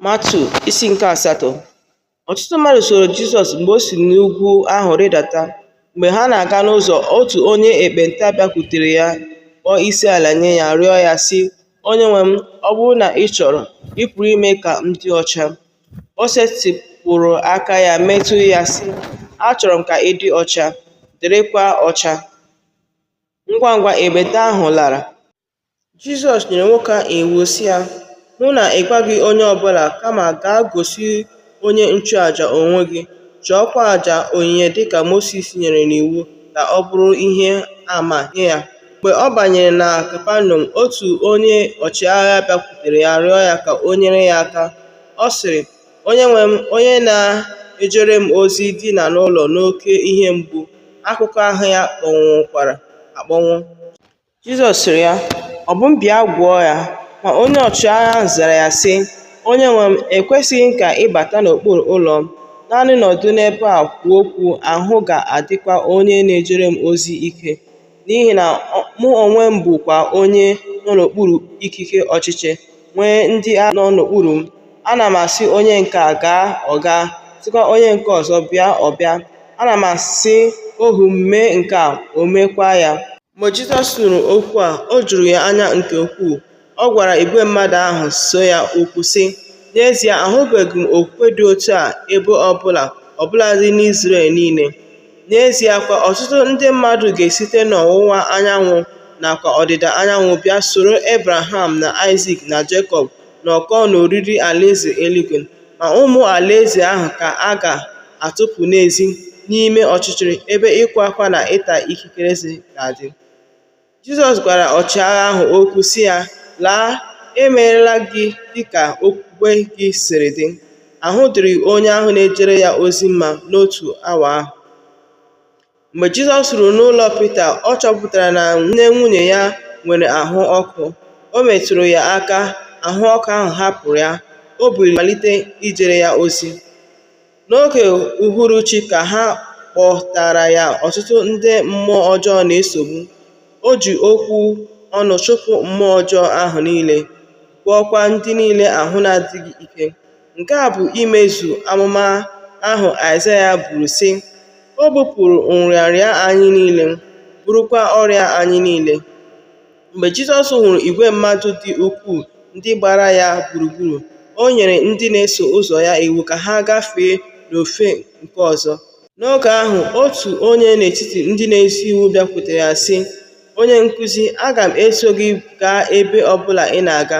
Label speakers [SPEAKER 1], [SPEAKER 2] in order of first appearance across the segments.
[SPEAKER 1] Matiu isi nke asatọ ọtụtụ mmadụ soro Jizọs mgbe o si n'ugwu ahụ rịdata. Mgbe ha na-aga n'ụzọ, otu onye ekpenta bịakwutere ya, kpọọ isi ala nye ya, rịọ ya, sị, Onye nwe m, ọ bụrụ na ị chọrọ, ị pụrụ ime ka m dị ọcha. O setịpụrụ aka ya metụ ya, sị, Achọrọ m ka ị dị ọcha, dịrịkwa ọcha. Ngwa ngwa ekpenta ahụ lara. Jizọs nyere nwoke ahụ iwu sị ya, hụ na ị gwaghị onye ọbụla kama gaa gosi onye nchụaja onwe gị, chụọkwa aja onyinye dịka Mosis nyere n'iwu ka ọ bụrụ ihe ama nye ya. Mgbe ọ banyere na Kapanọm, otu onye ọchịagha bịakwutere ya rịọ ya ka o nyere ya aka. Ọ sịrị, onye nwe m, onye na-ejere m ozi dina n'ụlọ n'oke ihe mgbu, akụkụ ahụ ya kpọnwụkwara akpọnwụ. Jizọs sịrị ya, Ọ bụ m bịa gwọọ ya? Ma onye ọchịagha ahụ zara ya, sị, Onye nwe m, ekwesịghị m ka ị bata n'okpuru ụlọ m. Naanị nọdụ n'ebe a kwuo okwu, ahụ ga-adịkwa onye na-ejere m ozi ike. N'ihi na mụ onwe m bụkwa onye nọ n'okpuru ikike ọchịchị, nwee ndị agha nọ n'okpuru m. Ana m asị onye nke a gaa, ọ gaa, sịkwa onye nke ọzọ bịa, ọ bịa. Ana m asị ohu m mee nke a, o meekwa ya. Mgbe Jizọs nụrụ okwu a, o juru ya anya nke ukwuu. Ọ gwara igwe mmadụ ahụ so ya okwu, sị, N'ezie, ahụbeghị m okwukwe dị otu a ebe ọ bụla, ọ bụladị n'Izrel niile. N'ezie kwa, ọtụtụ ndị mmadụ ga-esite n'ọwụwa anyanwụ nakwa ọdịda anyanwụ bịa soro Ebraham na Aịzik na Jekọb nọkọọ n'oriri Alaeze eluigwe, ma ụmụ Alaeze ahụ ka a ga-atụpụ n'ezi n'ime ọchịchịrị ebe ịkwa akwa na ịta ikikere eze ga-adị. Jizọs gwara ọchịagha ahụ okwu sị ya, Laa, emeela gị dịka okwukwe gị siri dị. Ahụ dịrị onye ahụ na-ejere ya ozi mma n'otu awa ahụ. Mgbe Jizọs ruru n'ụlọ Pita, ọ chọpụtara na nne nwunye ya nwere ahụ ọkụ. O metụrụ ya aka, ahụ ọkụ ahụ hapụrụ ya. O biliri malite ijere ya ozi. N'oge uhuruchi ka ha kpọtara ya ọtụtụ ndị mmụọ ọjọọ na-esogbu. O ji okwu ọnụ chụpụ mmụọ ọjọọ ahụ niile, gwọọkwa ndị niile ahụ na-adịghị ike. Nke a bụ imezu amụma ahụ Aịzaya buru, sị, O bupụrụ nrịanrịa anyị niile, burukwa ọrịa anyị niile. Mgbe Jizọs hụrụ igwe mmadụ dị ukwuu ndị gbara ya gburugburu, o nyere ndị na-eso ụzọ ya iwu ka ha gafee n'ofe nke ọzọ. N'oge ahụ, otu onye n'etiti ndị na-ezi iwu bịakwutere ya, sị, Onye nkụzi, aga m eso gị gaa ebe ọ bụla ị na-aga.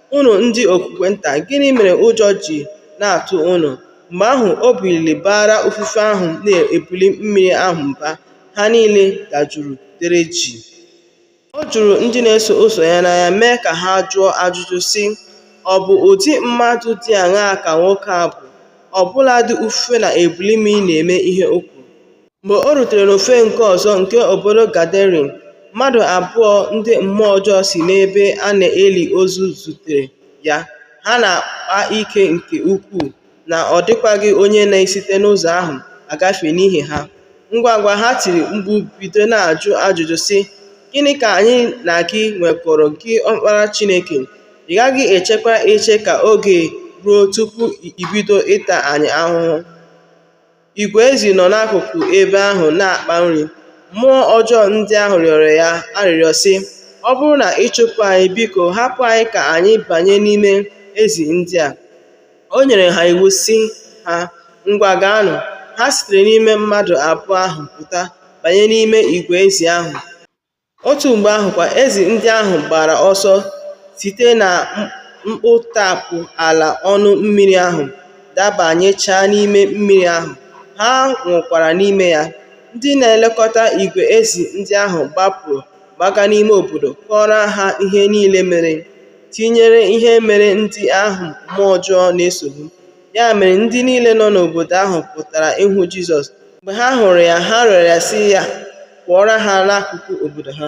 [SPEAKER 1] Unu ndị okwukwe nta, gịnị mere ụjọ ji na-atụ unu? Mgbe ahụ, o biliri baara ufufe ahụ na ebili mmiri ahụ mba, ha niile dajụrụ, dere jii. O juru ndị na-eso ụzọ ya n'anya, mee ka ha jụọ ajụjụ, sị, Ọ bụ ụdị mmadụ dị aṅaa ka nwoke a bụ? Ọ bụladị ufufe na ebili mmiri na-eme ihe o kwuru. Mgbe o rutere n'ofe nke ọzọ nke obodo Gadarene, mmadụ abụọ ndị mmụọ ọjọọ si n'ebe a na-eli ozu zutere ya, ha na-akpa ike nke ukwuu na ọ dịkwaghị onye na-esite n'ụzọ ahụ agafe n'ihi ha. Ngwangwa ha tiri mkpu bido na-ajụ ajụjụ sị, “Gịnị ka anyị na gị nwekọrọ, gị Ọkpara Chineke? Ị gaghị echekwa eche ka oge ruo tupu i bido ịta anyị ahụhụ?” Igwe ezi nọ n'akụkụ ebe ahụ na-akpa nri. Mmụọ ọjọọ ndị ahụ rịọrọ ya arịrịọ, sị, Ọ bụrụ na ị chụpụ anyị, biko hapụ anyị ka anyị banye n'ime ezi ndị a. O nyere ha iwu, sị ha, Ngwa gaanụ. Ha sitere n'ime mmadụ abụọ ahụ pụta banye n'ime igwe ezi ahụ. Otu mgbe ahụ kwa, ezi ndị ahụ gbara ọsọ site na mkputamkpu ala ọnụ mmiri ahụ dabanyechaa n'ime mmiri ahụ, ha nwụkwara n'ime ya. Ndị na-elekọta igwe ezi ndị ahụ gbapụrụ gbaga n'ime obodo kọọrọ ha ihe niile mere, tinyere ihe mere ndị ahụ mmụọ ọjọọ na-esogbu. Ya mere ndị niile nọ n'obodo ahụ pụtara ịhụ Jizọs. Mgbe ha hụrụ ya, ha rịọrọ ya sị ya pụọra ha n'akụkụ obodo ha.